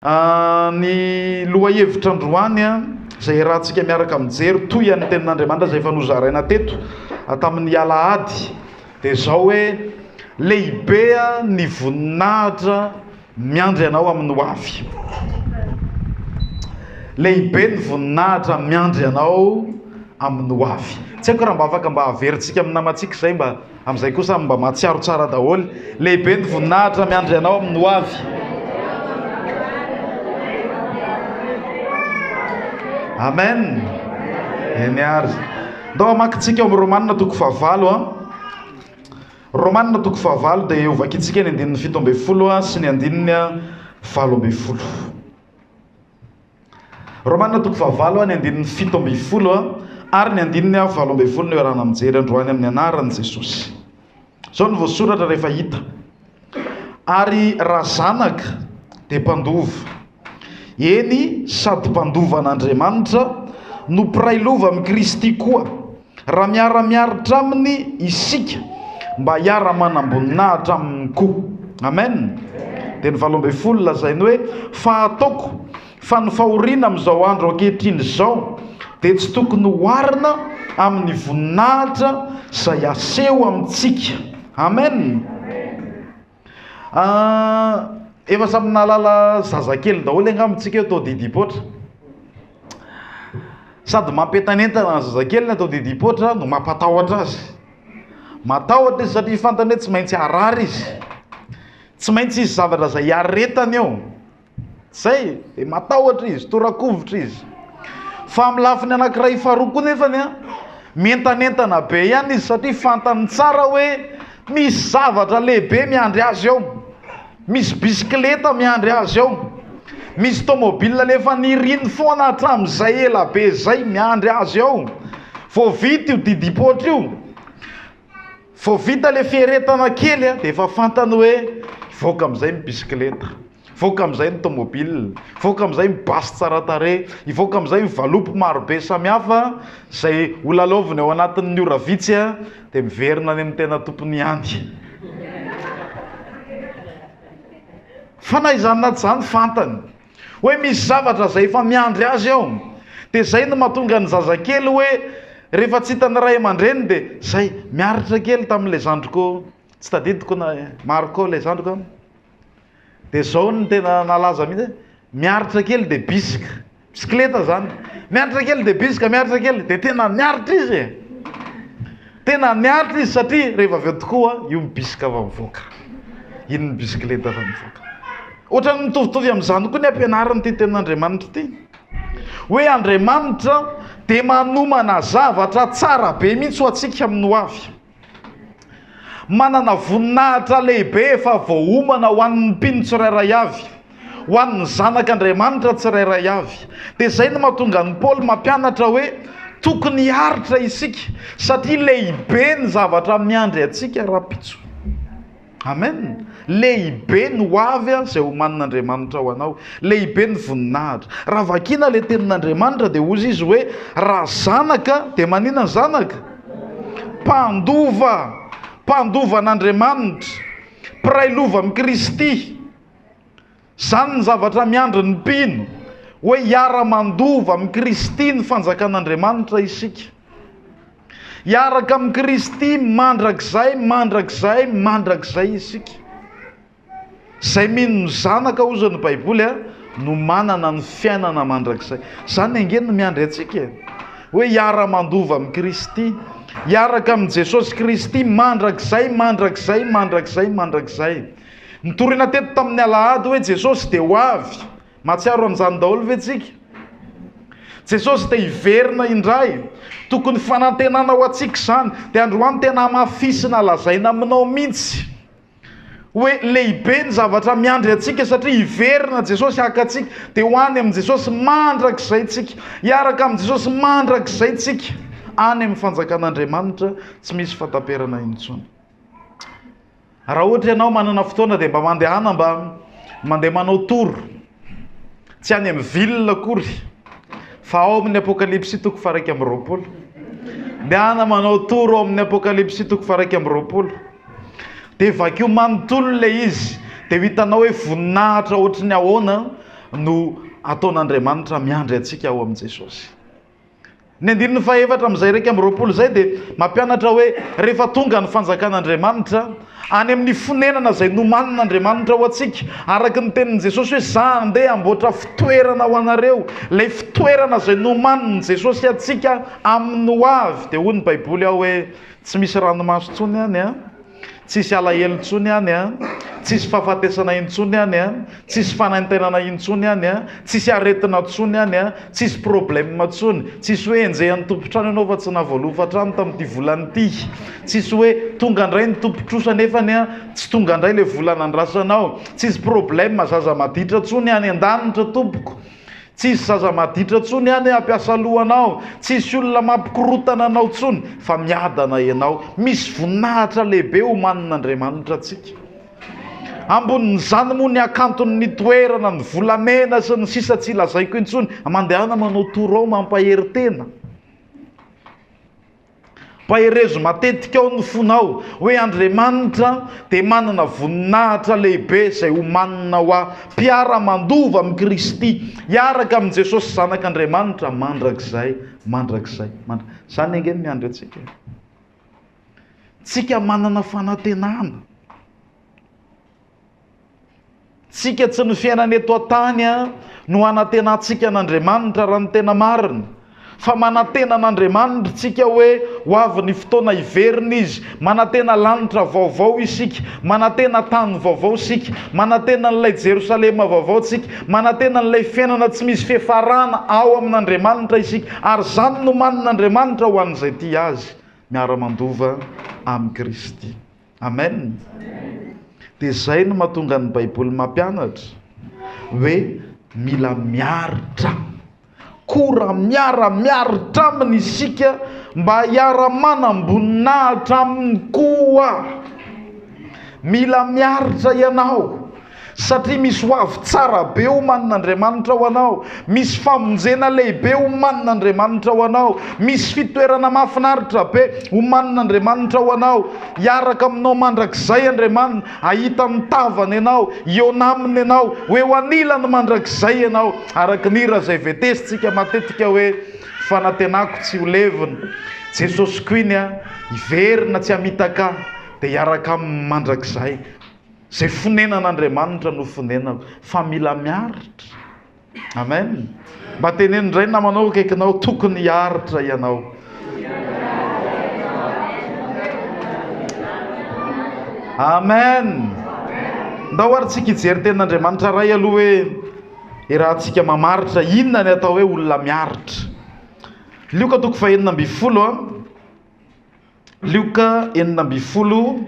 Ny lohahevitra androany, izay iarahantsika miaraka mijery toy an'ny Tenin'Andriamanitra izay efa nozaraina teto tamin'ny alahady, dia izao hoe, Lehibe ny voninahitra miandry anao amin'ny hoavy. Lehibe ny voninahitra miandry anao amin'ny hoavy. Tsy haiko raha mba afaka mba averintsika amin'ny namantsika izay mba. Amin'izay kosa mba mahatsiaro tsara daholo. Lehibe ny voninahitra miandry anao amin'ny ho avy. Amen. Eny ary. Ndao hamakintsika ao amin'ny Romanina toko fahavalo a. Romanina toko fahavalo dia hovakintsika ny andininy fito ambin'ny folo sy ny andininy valo ambin'ny folo. Romana toko fahavalo a ny andininy fito ambin'ny folo ary ny andininy a valo ambin'ny folo no iarahana mijery androany amin'ny anaran'i Jesosy. Izao no voasoratra rehefa hita. Ary raha zanaka dia mpandova. Eny, sady mpandova an'Andriamanitra no mpiray lova amin'i Kristy koa. raha miara-miaritra aminy isika mba hiara-manamboninahitra aminy koa. Amen. Dia ny valo ambin'ny folo lazainy hoe fa ataoko fa ny fahoriana amin'izao andro ankehitriny izao dia tsy tokony hoarina amin'ny voninahitra izay aseho amintsika. Amen. Efa samy nahalala zazakely daholo angamba isika eto didipoitra. Sady mampientanentana ny zazakely ny atao didipoitra no mampatahotra azy. Matahotra izy satria fantany hoe tsy maintsy harary izy. Tsy maintsy hisy zavatra izay hiaretany eo. Zay dia matahotra izy, torakovitra izy. Fa amin'ny lafiny anankiray faharoa koa nefany a, mientanentana be ihany izy satria fantany tsara hoe misy zavatra lehibe miandry azy ao. Misy bisikileta miandry azy ao. Misy tomobile alefa niriny foana hatramin'izay ela be izay miandry azy ao. Vao vita io didim-poatra io. Vao vita ilay fieretana kely dia efa fantany hoe hivoaka amin'izay ny bisikileta, hivoaka amin'izay ny tômôbila, hivoaka amin'izay ny basy tsara tarehy, hivoaka amin'izay ny valopy maro be samihafa izay ho lalaoviny ao anatin'ny ora vitsy dia miverina any amin'ny tena tompony ihany. Fa na izany na tsy izany fantany. Hoe misy zavatra izay efa miandry azy ao. Dia izay no mahatonga ny zazakely hoe rehefa tsy hitan'ny ray aman-dreniny dia izay, miaritra kely tamin'ilay zandriko, tsy tadidiko na Marco ilay zandriko an. Dia izao no tena nalaza mihitsy hoe miaritra kely dia bisika. Bisikileta izany. Miaritra kely dia bisika, miaritra kely dia tena miaritra izy e! Tena niaritra izy satria rehefa avy eo tokoa io mibisika fa mivoaka. Iny ny bisikileta fa mivoaka. Ohatran'ny mitovitovy amin'izany koa ny ampianarana ity tenin'Andriamanitra ity. Hoe Andriamanitra dia manomana zavatra tsara be mihitsy ho antsika amin'ny ho avy. Manana voninahitra lehibe efa voaomana ho an'ny mpino tsirairay avy. ho an'ny zanak' Andriamanitra tsirairay avy. Dia izay no mahatonga an'i Paoly mampianatra hoe tokony hiaritra isika, satria lehibe ny zavatra miandry antsika rahampitso. Amen. Lehibe ny ho avy izay homanin' Andriamanitra ho anao. Lehibe ny voninahitra. Raha vakiana ilay tenin' Andriamanitra dia hozy izy hoe raha zanaka dia maninona ny zanaka? Mpandova, mpandovan' Andriamanitra, mpiray lova amin'i Kristy. Izany ny zavatra miandry ny mpino, hoe hiara-mandova amin'i Kristy ny fanjakan'Andriamanitra isika. Hiaraka amin'i Kristy mandrakizay, mandrakizay, mandrakizay isika. Izay mino ny Zanaka, hoy ny Baiboly, no manana ny fiainana mandrakizay. Izany ange no miandry antsika e, hoe hiara-mandova amin'i Kristy, hiaraka amin'i Jesosy Kristy mandrakizay, mandrakizay, mandrakizay, mandrakizay. Nitoriana teto tamin'ny alahady hoe Jesosy dia ho avy. Mahatsiaro an'izany daholo ve tsika? Jesosy dia hiverina indray. Tokony fanantenana ho antsika izany. Dia androany tena hamafisina lazaina aminao mihitsy hoe lehibe ny zavatra miandry antsika satria hiverina Jesosy haka antsika. Dia ho any amin'i Jesosy mandrakizay tsika. Hiaraka amin'i Jesosy mandrakizay tsika. Any amin'ny fanjakan'Andriamanitra tsy misy fataperana intsony. Raha ohatra ianao manana fotoana dia mba mandehana mba mandeha manao tour, tsy any amin'ny ville akory fa ao amin'ny Apokalypsy toko faharaika amby roapolo. Dehana manao tour ao amin'ny Apokalypsy toko faharaika amby roapolo. Dia vakio manontolo ilay izy, dia ho hitanao hoe voninahitra ohatry ny ahoana no ataon'Andriamanitra miandry antsika ao amin'i Jesosy. Ny andininy fahefatra amin'izay iraika amby roapolo izay dia mampianatra hoe rehefa tonga ny fanjakan'Andriamanitra any amin'ny fonenana izay nomanin'Andriamanitra ho antsika, araka ny tenin'i Jesosy hoe za handeha hamboatra fitoerana ho anareo, ilay fitoerana izay nomanin'i Jesosy antsika amin'ny hoavy, dia hoy ny baiboly ao hoe tsy misy ranomaso intsony any an. Tsisy alahelo intsony any an! Tsisy fahafatesana intsony any an! Tsisy fanaintainana intsony any an! Tsisy aretina intsony any an! Tsisy problème intsony! Tsisy hoe enjehan'ny tompon-trano ianao fa tsy nahavoalova trano tamin'ity volana ity! Tsisy hoe tonga indray ny tompon-trosa nefany an! Tsy tonga indray ilay vola nandrasanao! Tsisy problème zaza maditra intsony any an-danitra tompoko! Tsisy zaza maditra tsony any hampiasa loha anao, tsisy olona mampikorotana anao tsony fa miadana enao. Misy voninahitra lehibe omanin' Andriamanitra antsika. Ambonin'izany moa ny hakanton'ny toerana, ny volamena sy ny sisa tsy lazaiko intsony. Mandehana manao tour ao mampahery tena. Paherezo matetika ao ny fonao hoe Andriamanitra dia manana voninahitra lehibe izay homanina ho ahy, mpiara-mandova amin'i Kristy, hiaraka amin'i Jesosy Zanak'Andriamanitra mandrakizay, mandrakizay, mandrakizay. Izany ange no miandry antsika e! Tsika manana fanantenana. Tsika tsy ny fiainana eto an-tany no hanantenantsika an'Andriamanitra raha ny tena marina, fa manantena an'Andriamanitra isika hoe ho avy ny fotoana hiverina Izy, manantena lanitra vaovao isika, manantena tany vaovao isika, manantena an'ilay Jerosalema vaovao isika, manantena an'ilay fiainana tsy misy fiafarana ao amin'Andriamanitra isika, ary izany nomanin'Andriamanitra ho an'izay tia Azy miara-mandova amin'i Kristy. Amen! Dia izay no mahatonga ny Baiboly mampianatra hoe mila miaritra. Kora miara-miaritra aminy isika mba hiara-manam-boninahitra aminy koa. Mila miaritra ianao. Satria misy ho avy tsara be omanin' Andriamanitra ho anao, misy famonjena lehibe omanin' Andriamanitra ho anao, misy fitoerana mahafinaritra be omanin' Andriamanitra ho anao. Hiaraka aminao mandrakizay Andriamanina, hahita ny tavany ianao, hihaona aminy ianao, ho eo anilany mandrakizay ianao, araka ny hira izay vetesintsika matetika hoe, Fanantenako tsy ho levona, Jesosy Queen a, hiverina tsy hamitaka ahy, dia hiaraka aminy mandrakizay. Izay fonenan'Andriamanitra no fonenako fa mila miaritra. Amen. Mba teneno indray ny namanao akaikinao, tokony hiaritra ianao. Amen. Ndao ary tsika hijery tenin'Andriamanitra ray aloha hoe irahantsika mamaritra inona ny atao hoe olona miaritra. Lioka toko fahenina ambin'ny folo a. Lioka enina ambin'ny folo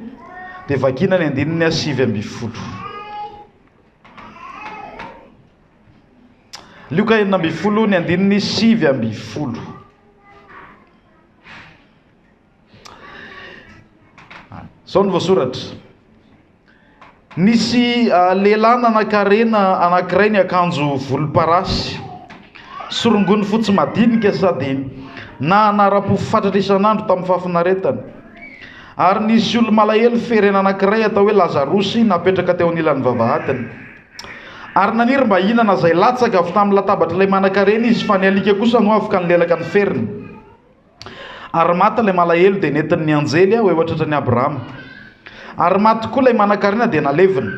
dia vakina ny andininy sivy ambin'ny folo. Lioka enina ambin'ny folo ny andininy sivy ambin'ny folo. Zao ny voasoratra. Nisy lehilahy nanankarena anankiray niakanjo volomparasy sy rongony fotsy madinika sady nahanara-po fatratra isan'andro tamin'ny fahafinaretana. Ary nisy olo-malahelo ferena anankiray atao hoe Lazarosy napetraka teo anilan'ny vavahadiny. Ary naniry mba hihinana izay latsaka avy tamin'ny latabatr'ilay manankarena izy, fa ny alika kosa nohavoka nilelaka ny feriny. Ary maty ilay malahelo dia nentiny ny anjely ho eo an-tratran'i Abrahama. Ary maty koa ilay manankarena dia nalevina.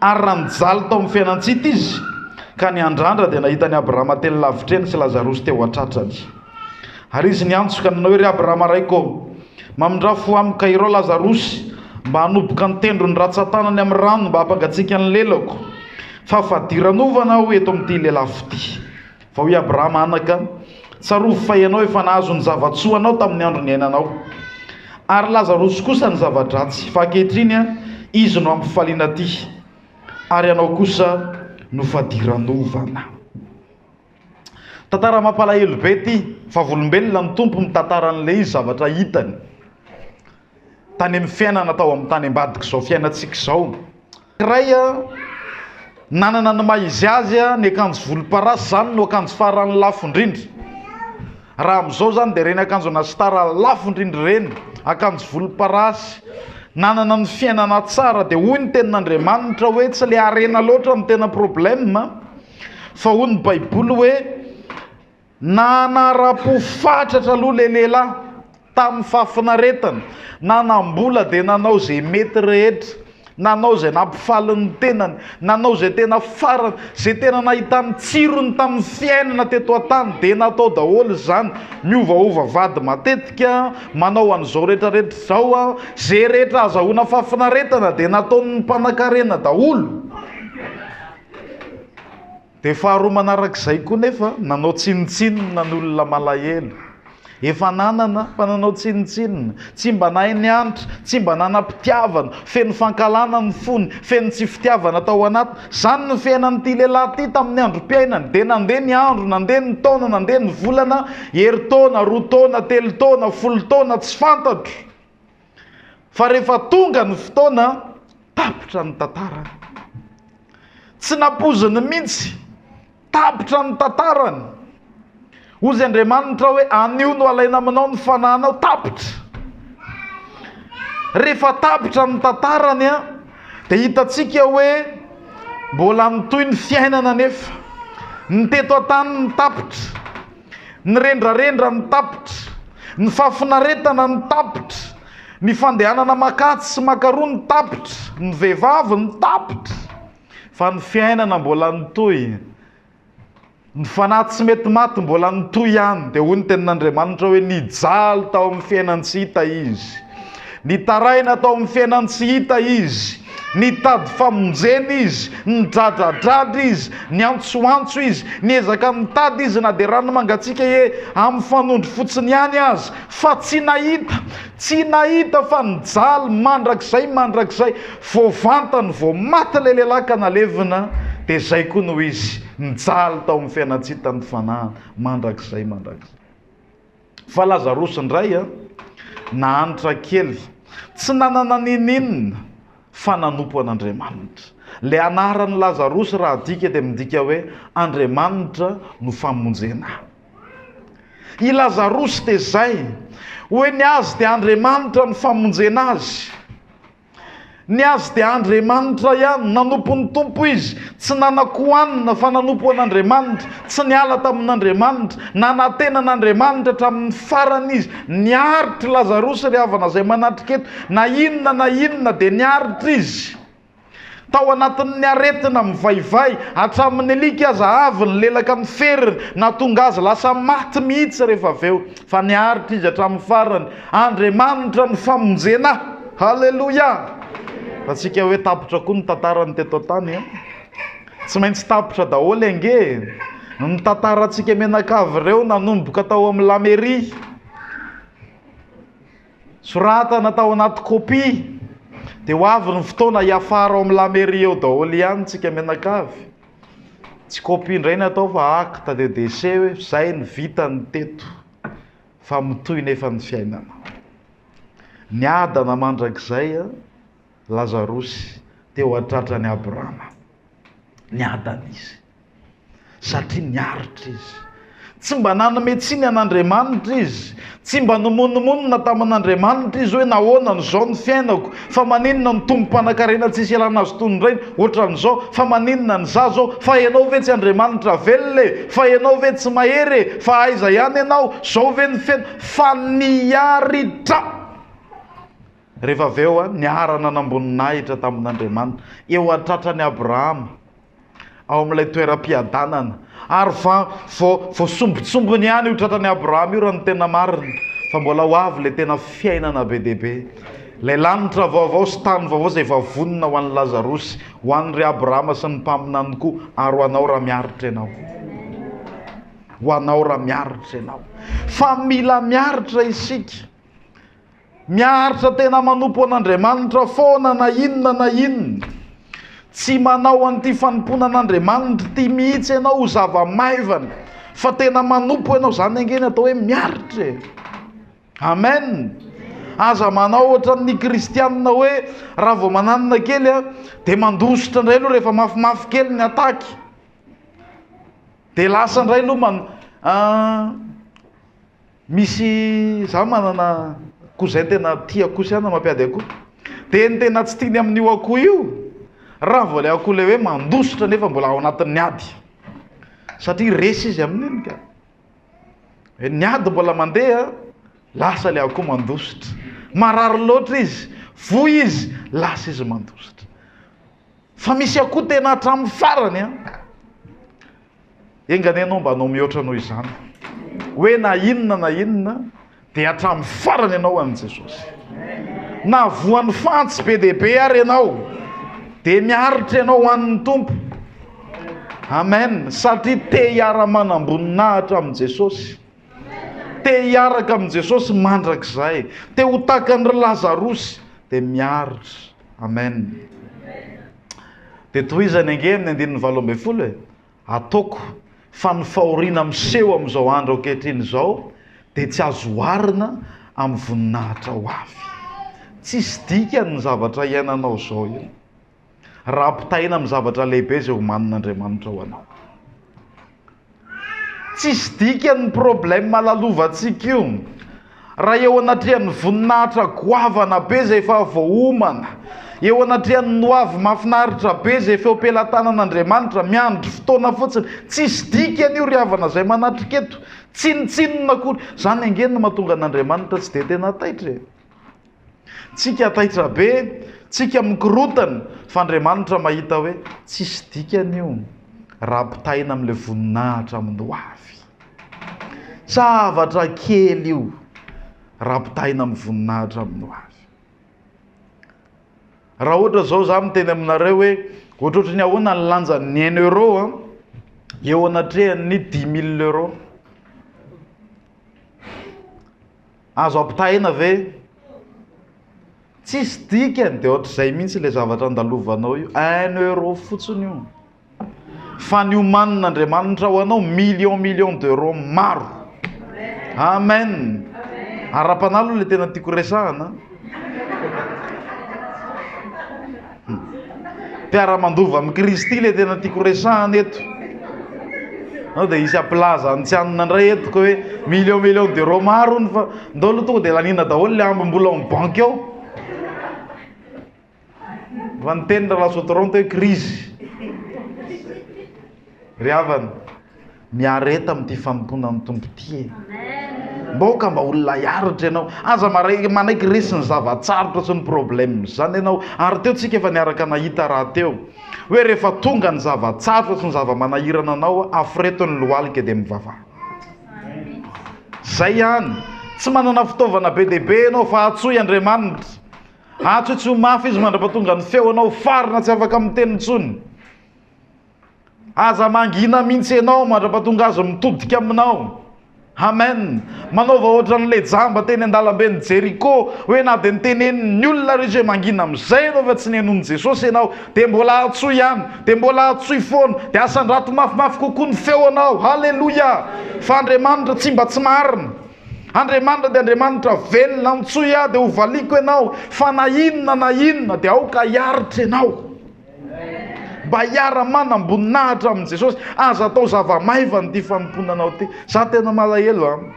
Ary raha nijaly tao amin'ny fiainan-tsita izy ka niandrandra dia nahita an'i Abrahama teny lavitra eny sy Lazarosy teo an-tratrany. Ary izy niantso ka nanao hoe, Ry Abrahama raiko ô, mamindrà fo amiko ka irao Lazarosy mba hanoboka ny tendrony ratsan-tanany amin'ny rano mba hampangatsiaka ny lelako, fa fadiranovana aho eto amin'ity lelafo ity. Fa hoy Abrahama, Anaka, tsarovy fa ianao efa nahazo ny zava-tsoa anao tamin'ny andro niainanao, ary Lazarosy kosa ny zava-dratsy, fa ankehitriny izy no hampifaliana aty, ary ianao kosa no fadiranovana. Tantara mampalahelo be ity, vavolombelona ny Tompo mitantara an'ilay izy zavatra hitany tany amin'ny fiainana tao amin'ny tany ambadik'izao fiainantsika izao. iray nanana ny maha izy azy ny akanjo volomparasy izany no akanjo farany lafo indrindra raha amin'izao izany dia ireny akanjo ana star lafo indrindra ireny akanjo volomparasy nanana ny fiainana tsara dia hoy ny tenin'Andriamanitra hoe tsy ilay harena loatra no tena problème fa hoy ny baiboly hoe Nanara-po fatratra aloha ilay lehilahy, tamin'ny fahafinaretana. Nanam-bola dia nanao izay mety rehetra. Nanao izay nampifaly ny tenany. Nanao izay tena farany. Izay tena nahitany tsirony tamin'ny fiainana teto an-tany dia natao daholo izany. Miovaova vady matetika, manao an'izao rehetrarehetra izao. Izay rehetra ahazahoana fahafinaretana dia nataon'ny mpanankarena daholo. Dia faharoa manarak'izay koa nefa nanao tsinontsinona ny olona malahelo. Efa nanana fa nanao tsinontsinona. Tsy mba nahay niantra, tsy mba nanam-pitiavana, feno fankahalana ny fony, feno tsy fitiavana tao anatiny. Izany no fiainan'ity lehilahy ity tamin'ny androm-piainany. Dia nandeha ny andro, nandeha ny taona, nandeha ny volana, herintaona, roa taona, telo taona, folo taona, tsy fantatro. Fa rehefa tonga ny fotoana, tapitra ny tantarany. Tsy nampoiziny mihitsy, tapitra ny tantarany. Hoy izy Andriamanitra hoe, anio no alaina aminao ny fanahinao, tapitra. Rehefa tapitra ny tantarany, dia hitantsika hoe mbola mitohy ny fiainana anefa. Ny teto an-tany ny tapitra. Ny rendrarendra no tapitra. Ny fahafinaretana no tapitra. Ny fandehanana maka atsy sy maka aroa no tapitra. Ny vehivavy no tapitra. Fa ny fiainana mbola nitohy. Ny fanahy tsy mety maty mbola nitohy ihany. Dia hoy ny tenin'Andriamanitra hoe, Nijaly tao amin'ny fiainan-tsy hita izy. Nitaraina tao amin'ny fiainan'ny tsy hita izy. Nitady famonjena izy. Nidradradradra izy. Niantsoantso izy. Niezaka nitady izy na dia rano mangatsiaka e, amin'ny fanondro fotsiny ihany aza. Fa tsy nahita. Tsy nahita fa nijaly mandrakizay mandrakizay. Vao vantany vao maty ilay lehilahy ka nalevina, dia izay koa no izy. Nijaly tao amin'ny fiainan-tsy hitan'ny fanahiny mandrakizay mandrakizay. Fa Lazarosy indray a! nahantra kely, tsy nanana n'inon'inona fa nanompo an'Andriamanitra. Ilay anaran'i Lazarosy raha adika dia midika hoe Andriamanitra no famonjena ahy. I Lazarosy dia izay, ho eny azy dia Andriamanitra no famonjena azy. Ny azy dia Andriamanitra ihany. Nanompo ny Tompo izy. Tsy nanan-kohanina, fa nanompo an'Andriamanitra. Tsy niala tamin'Andriamanitra. Nanantena an'Andriamanitra hatramin'ny farany izy. Niaritra i Lazarosy, ry havana izay manatrika eto. Na inona na inona, dia niaritra izy. Tao anatin'ny aretina mivaivay hatramin'ny alika aza avy ny lelaka miferiny, nahatonga azy lasa maty mihitsy rehefa avy eo. Fa niaritra izy hatramin'ny farany. Andriamanitra no famonjena. Haleloia! Ataontsika hoe tapitra koa ny tantarany teto an-tany an! Tsy maintsy tapitra daholo ange e! Ny tantarantsika mianakavy ireo nanomboka tao amin'ny Lameria. Soratana tao anaty kopia. Dia ho avy ny fotoana hiafara ao amin'ny La Mairie ao daholo ihany tsika mianakavy. Tsy kopia indray ny atao fa acte de décès hoe izay ny vitany teto fa mitohy nefa ny fiainana. Niadana mandrakizay Lazarosy teo an-tratran'i Abrama. Niadana izy. satria niaritra izy. Tsy mba nanome tsiny an'Andriamanitra izy. Tsy mba nimonomonona tamin'Andriamanitra izy hoe nahoana no izao ny fiainako, fa maninona ny tombom-panankarena tsisy ialana azy toy ny rainy, ohatran'izao, fa maninona ny za zao, fa ianao ve tsy Andriamanitra velona e, fa ianao ve tsy mahery e, fa aiza ihany ianao, zao ve ny fiaina, fa niaritra. Rehefa avy eo niarana namboninahitra tamin'Andriamanitra, eo an-tratran'i Abrahama, ao amin'ilay toeram-piadanana. Ary vao, vao, vao sombintsombiny ihany io tratran'i Abrahama io raha ny tena marina, fa mbola ho avy ilay tena fiainana be dia be. Ilay lanitra vaovao sy tany vaovao izay efa vonona ho an'i Lazarosy, ho an'ir'i Abrahama sy ny mpaminany koa, ary ho anao raha miaritra ianao. Ho anao raha miaritra ianao. Fa mila miaritra isika. Miaritra tena manompo an'Andriamanitra foana na inona na inona. Tsy manao an'ity fanompoana an'Andriamanitra ity mihitsy ianao ho zava-maivana fa tena manompo ianao. Izany ange no atao hoe miaritra e. Amen. Aza manao ohatran'ny kristianina hoe raha vao mananina kely a dia mandositra indray aloha rehefa mafimafy kely ny ataky. Dia lasa indray aloha man Misy za manana cousin tena tia akoho sy anana mampiady akoho dia ny tena tsy tiany amin'io akoho io raha vao ilay akoho ilay hoe mandositra nefa mbola ao anatin'ny ady satria resy izy amin'iny ka hoe ny ady mbola mandeha lasa ilay akoho mandositra marary loatra izy voa izy lasa izy mandositra fa misy akoho tena hatramin'ny farany an Enga anie ianao mba hanao mihoatra noho izany. Hoe na inona na inona dia hatramin'ny farany ianao an'i Jesosy. Na voan'ny fantsy be dia be ary ianao dia miaritra ianao an'ny Tompo. Amen. Satria te hiara-manam-boninahitra amin'i Jesosy. Te hiaraka amin'i Jesosy mandrakizay. Te ho takan'i Lazarosy dia miaritra. Amen. Dia tohizany ange amin'ny andininy valo ambin'ny folo e. Ataoko fa ny fahoriana miseho amin'izao andro ankehitriny izao dia tsy azo oharina amin'ny voninahitra ho avy. Tsisy dikany ny zavatra iainanao izao io. Raha ampitahaina amin'ny zavatra lehibe izay omanin'Andriamanitra ho anao. Tsisy dikany ny problème lalovantsika io raha eo anatrehan'ny voninahitra goavana be izay efa voaomana, eo anatrehan'ny ny hoavy mahafinaritra be izay efa eo am-pelatanan'Andriamanitra, miandry fotoana fotsiny. Tsisy dikany io ry havana izay manatrika eto, tsinontsinona akory. Izany ange no mahatonga an'Andriamanitra tsy dia tena taitra e. Tsika taitra be, tsika mikorontana, fa Andriamanitra mahita hoe tsisy dikany io raha ampitahaina amin'ilay voninahitra amin'ny ho avy. Zavatra kely io raha ampitahaina amin'ny voninahitra amin'ny ho avy. Raha ohatra izao za miteny aminareo hoe ohatrohatry ny ahoana ny lanjan'ny un euro an, eo anatrehan'ny dix mille euro. Azo ampitahaina ve? Tsisy dikany dia ohatr'izay mihitsy le zavatra andalovanao io, un euro fotsiny io fa ny omanin'Andriamanitra ho anao million million d'euro maro. Amen. Ara-panahy aloha le tena tiako resahana. Mpiara-mandova amin'i Kristy ilay tena tiako resahana eto. Nao dia hisy ampilaza ny tsy hanina indray eto ka hoe million million d'euros maro ny fa ndao aloha tonga dia laniana daholo ilay amby mbola ao amin'ny banky ao. Fa niteny Ralasoa Toronto hoe krizy. Ry havana. Miareta amin'ity fanompoana amin'ny Tompo ity e! Moka mba ho lay aritra ianao. Aza maray manaiky resy ny zava-tsarotra sy ny problème izany ianao. Ary teo tsika efa niaraka nahita raha teo. Hoe rehefa tonga ny zava-tsarotra sy ny zava-manahirana anao, aforeto ny lohalika dia mivavaha. Izay ihany. Tsy manana fitaovana be dia be ianao fa antsoy Andriamanitra. Antsoy tsy ho mafy Izy mandra-pahatongan'ny feo anao farina tsy afaka miteny intsony. Aza mangina mintsy enao mandrapatonga azy mitodika aminao. Amen. Manaova ohatran'ny le jamba teny an-dalamben'i Jeriko hoe na dia nitenenin'ny olona rehetra hoe mangina amin'izay ianao fa tsy nenoin'i Jesosy ianao dia mbola hatsoy ihany, dia mbola hatsoy foana, dia asandrato mafimafy kokoa ny feonao. Haleloia! Fa Andriamanitra tsy mba tsy marina. Andriamanitra dia Andriamanitra velona, antsoy aho dia hovaliako ianao fa na inona na inona dia aoka hiaritra ianao. Mba hiara manam-boninahitra amin'i Jesosy. Aza atao zava-maivana ity fanompoana anao ity. Za tena malahelo an.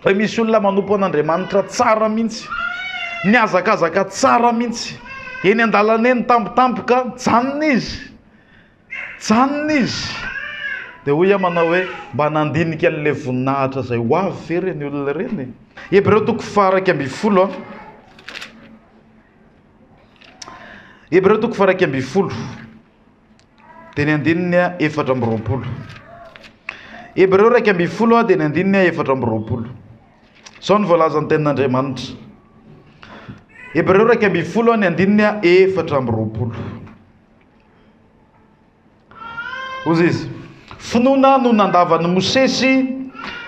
Fa misy olona manompo an'Andriamanitra tsara mihitsy. Mihazakazaka tsara mihitsy. Eny an-dalana eny tampotampoka, mijanona izy. Mijanona izy. Dia hoy aho manao hoe mba nandinika an'ilay voninahitra izay ho avy ve ireny olona ireny? Hebreo toko faha iraika ambin'ny folo an. Hebreo toko faharaika ambin'ny folo, dia ny andininy efatra amby roapolo. Hebreo iraika ambin'ny folo, dia ny andininy efatra amby roapolo. Izao ny voalazan'ny tenin'Andriamanitra. Hebreo iraika ambin'ny folo, ny andininy efatra amby roapolo. Hoy izy, Finoana no nandavan'i Mosesy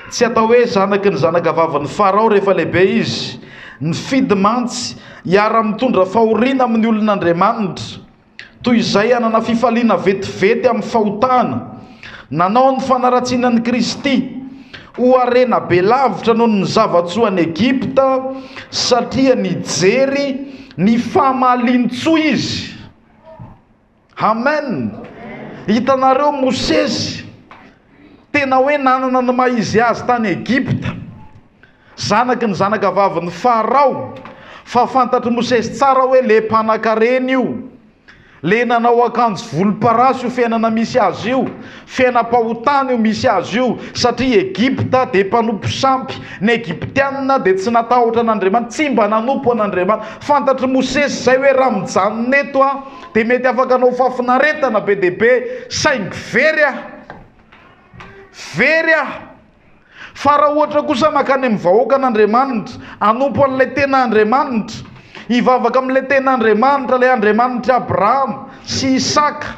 tsy atao hoe zanaky ny zanakavavin'i Farao rehefa lehibe izy. Nifidy mantsy hiara-mitondra fahoriana amin'ny olon'Andriamanitra, toy izay hanana fifaliana vetivety amin'ny fahotana. Nanao ny fanaratsiana an'i Kristy ho harena be lavitra noho ny zava-tsoa any Egypta, satria nijery ny fahamalian-tsoa izy. Amen! Hitanareo Mosesy, tena hoe nanana ny maha izy azy tany Egypta, zanaky ny zanakavavin'i Farao, fa fantatr'i Mosesy tsara hoe le mpanakarena io, le nanao akanjo volomparasy io fiainana misy azy io, fiainam-pahotana io misy azy io, satria Egypta dia mpanompo sampy, ny Egyptiana dia tsy natahotra an'Andriamanitra, tsy mba nanompo an'Andriamanitra. Fantatr'i Mosesy izay hoe raha mijanona eto aho, dia mety afaka hanao fahafinaretana be dia be, saingy very aho, very aho. Fa raha ohatra kosa mankany amin'ny vahoakan'Andriamanitra, hanompo an'ilay tena Andriamanitra, hivavaka amin'ilay tena Andriamanitra, ilay Andriamanitr'i Abrahama sy Isaka,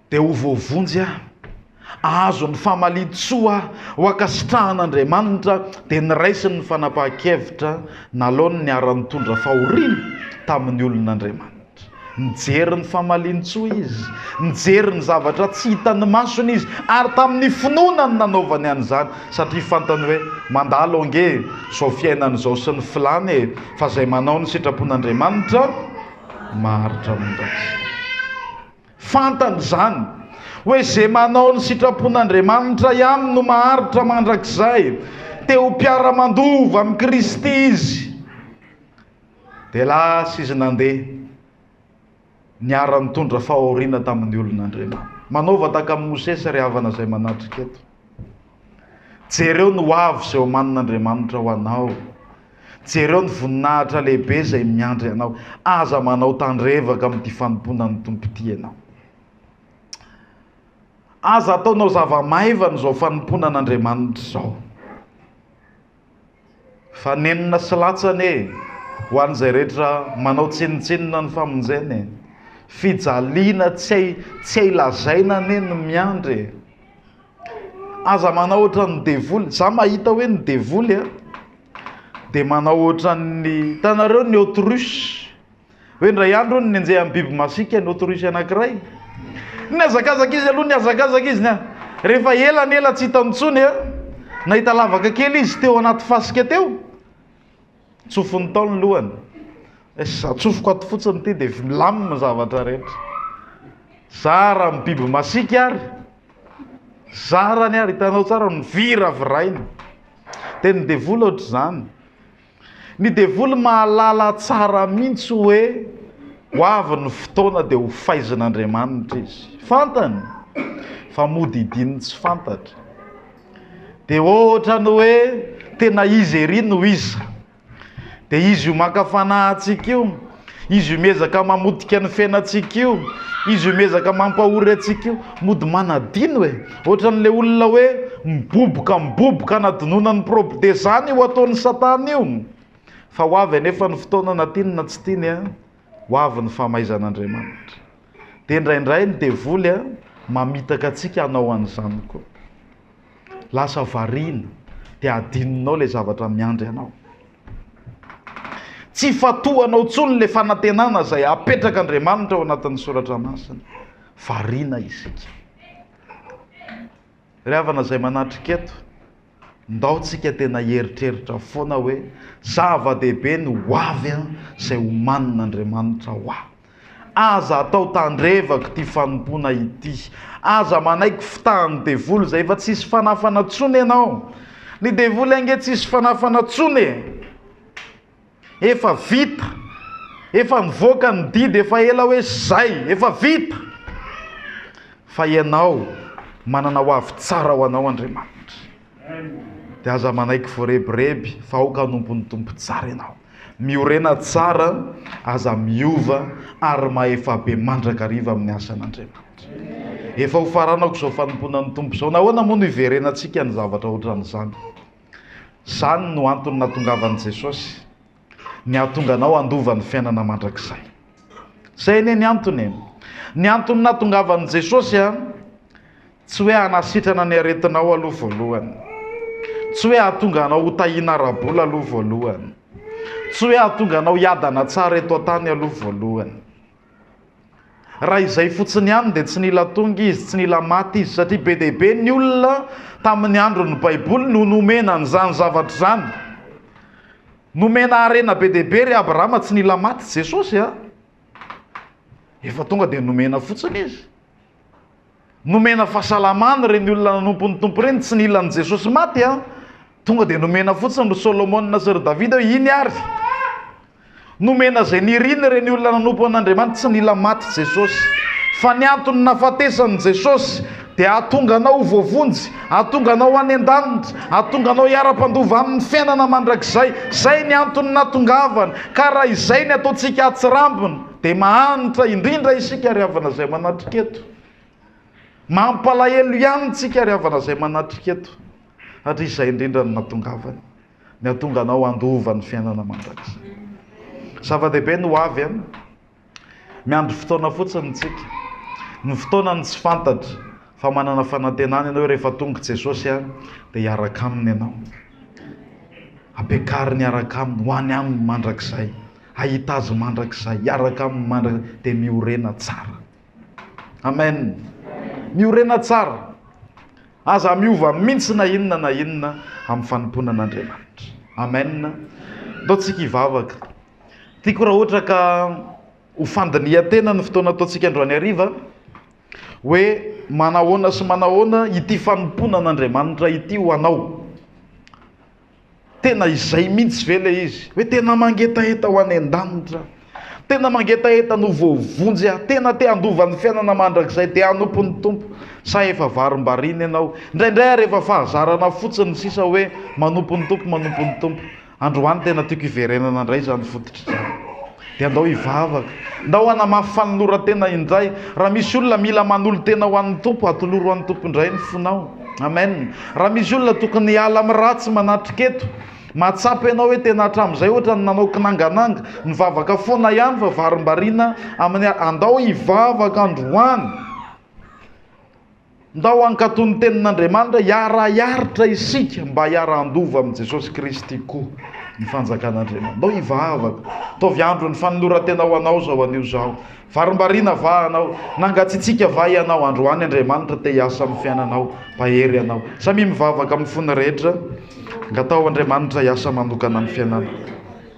Dia ho voavonjy aho, hahazo ny famalian-tsoa aho, ho ankasitrahan'Andriamanitra, dia niraisiny ny fanapahan-kevitra nalaony ny niara-nitondra fahoriana tamin'ny olon'Andriamanitra. Nijery ny famalian-tsoa izy, nijery ny zavatra tsy hitan'ny masony izy, ary tamin'ny finoana no nanaovany an'izany, satria fantany hoe, Mandalo ange e, izao fiainana izao sy ny filany e, fa izay manao ny sitrapon'Andriamanitra maharitra amin'izany. Fantany izany, hoe izay manao ny sitrapon'Andriamanitra ihany no maharitra mandrakizay. Te ho mpiara-mandova amin'i Kristy izy. Dia lasa izy nandeha, niara-nitondra fahoriana tamin'ny olon'Andriamanitra. Manova tahaka amin'i Mosesy ry havana izay manatrika eto. Jereo ny ho avy izay omanin'Andriamanitra ho anao. Jereo ny voninahitra lehibe izay miandry anao. Aza manao tandrevaka amin'ity fanompoana ny Tompo ity ianao. Aza ataonao zava-maivana izao fanompoana an'Andriamanitra izao. Fa nenina sy latsany e! Ho an'izay rehetra manao tsinontsinona ny famonjena e! Fijaliana tsy hay, tsy hay lazaina anie ny miandry e! Aza manao ohatran'ny devoly, za mahita hoe ny devoly a, dia manao ohatran'ny, hitanareo ny autruche? Hoe indray andro hono nenjehan'ny biby masiaka ny autruche anankiray. Nihazakazaka izy aloha, nihazakazaka izy nia. Rehefa ela ny ela tsy hitany intsony a, nahita lavaka kely izy teo anaty fasika teo. Tsofony tao ny lohany. Es- Atsofoko ato fotsiny ity dia f- milamina ny zavatra rehetra. Zara amin'ny biby masiaka ary. Zarany ary, hitanao tsara, niviravirahina. Dia ny devoly ohatr'izany. Ny devoly mahalala tsara mihitsy hoe ho avy ny fotoana dia ho faizin'Andriamanitra izy. Fantany fa mody hidininy tsy fantatra. Dia ohatra ny hoe tena izy ery no iza. Dia izy io maka fanahy antsika io. Izy io miezaka mamotika ny fiainantsika io, izy io miezaka mampahory antsika io, mody manadino e. Ohatran'ilay olona hoe miboboka miboboka anadinoana ny prob. Dia izany io ataon'i Satana io. Fa ho avy anefa ny fotoana na tiany na tsy tiany a, ho avy ny famaizan'Andriamanitra. Dia indraindray ny devoly a, mamitaka antsika hanao an'izany koa. Lasa variana, dia adinonao ilay zavatra miandry anao. Tsy ifantohanao intsony ilay fanantenana izay apetrak'Andriamanitra ao anatin'ny soratra masina. Variana isika. Ry havana izay manatrika eto, ndao tsika tena hieritreritra foana hoe zava-dehibe ny ho avy izay homanin'Andriamanitra ho ahy. Aza atao tandrevaka ity fanompoana ity. Aza manaiky fitahan'ny devoly izay efa tsisy fanafana tsony ianao. Ny devoly ange tsisy fanafana tsony e. Efa vita. Efa nivoaka ny didy efa ela hoe zay. Efa vita. Fa ianao manana ho avy tsara ho anao Andriamanitra. Dia aza manaiky voarebireby fa aoka hanompon'ny Tompo tsara ianao. Miorena tsara, aza miova ary mahefa be mandrakariva amin'ny asan'Andriamanitra. Efa ho faranako izao fanompoana ny Tompo izao. Nahoana moa no hiverenantsika ny zavatra ohatran'izany? Izany no antony nahatongavan'i Jesosy. ny hahatonga anao handova ny fiainana mandrakizay. Izay anie ny antony e. Ny antony nahatongavan'i Jesosy a, tsy hoe hanasitrana ny aretinao aloha voalohany. Tsy hoe hahatonga anao ho tahiana ara-bola aloha voalohany. Tsy hoe hahatonga anao hiadana tsara eto an-tany aloha voalohany. Raha izay fotsiny ihany dia tsy nila tonga izy, tsy nila maty izy, satria be dia be ny olona tamin'ny andron'ny Baiboly no nomena an'izany zavatra izany. Nomena harena be dia be ry Abrahama, tsy nila maty Jesosy a. Efa tonga dia nomena fotsiny izy. Nomena fahasalamana ireny olona nanompo ny Tompo ireny, tsy nila an'i Jesosy maty an! Tonga dia nomena fotsiny ry Solomona sy ry Davida hoe iny ary! Nomena izay niriny ireny olona nanompo an'Andriamanitra, tsy nila maty Jesosy. Fa ny antony nahafatesan'i Jesosy dia hahatonga anao ho voavonjy, hahatonga anao any an-danitra, hahatonga anao hiara-mpandova aminy fiainana mandrakizay. Izay ny antony nahatongavany. Ka raha izay ny ataontsika atsirambina, Dia mahantra indrindra isika ry havana izay manatrika eto. Mampalahelo ihany tsika ry havana izay manatrika eto. Satria izay indrindra no natongavany. Ny hatonga anao handova ny fiainana mandrakizay. Zava-dehibe ny ho avy an. Miandry fotoana fotsiny tsika. Ny fotoana no tsy fantatra. Fa manana fanantenana ianao hoe rehefa tonga i Jesosy an, dia hiaraka aminy ianao. Ampiakariny hiaraka aminy, ho any aminy mandrakizay. Hahita Azy mandrakizay, hiaraka Aminy mandrakizay, dia miorena tsara. Amen. Miorena tsara. Aza miova mintsy na inona na inona amin'ny fanompoana an'Andriamanitra. Amen. Ataontsika hivavaka. Tiako raha ohatra ka ho fandinihan-tena ny fotoana ataontsika androany hariva hoe manahoana sy manahoana ity fanompoana an'Andriamanitra ity ho anao. Tena izay mihitsy ve ilay izy hoe tena mangetaheta ho any an-danitra? Tena mangetaheta no voavonjy aho, tena te handova ny fiainana mandrakizay, dia hanompo ny Tompo, sa efa varimbariana ianao? Indraindray ary efa fahazarana fotsiny ny sisa hoe manompo ny Tompo, manompo ny Tompo. Androany tena tiako hiverenana indray izany fototra izany. Dia andao hivavaka. Ndao hanamafy fanoloran-tena indray. Raha misy olona mila manolo-tena ho an'ny Tompo, atoloro an'ny Tompo indray ny fonao. Amen. Raha misy olona tokony hiala amin'ny ratsy manatrika eto, mahatsapa ianao hoe tena hatramin'izay ohatran'ny nanao kinangananga, mivavaka foana ihany fa varimbariana amin'ny, andao hivavaka androany. Ndao hankatò ny Tenin'Andriamanitra, hiara-hiaritra isika mba hiara-handova amin'i Jesosy Kristy koa ny Fanjakan'Andriamanitra. Ndao hivavaka. Ataovy andro ny fanoloran-tena ho Anao izao anio izaho. Varimbariana va Anao? Nangatsiatsiaka va Ianao? Androany Andriamanitra te hiasa amin'ny fiainanao. Mpahery Ianao. Samia mivavaka amin'ny fony rehetra. Angataho Andriamanitra hiasa manokana amin'ny fiainana.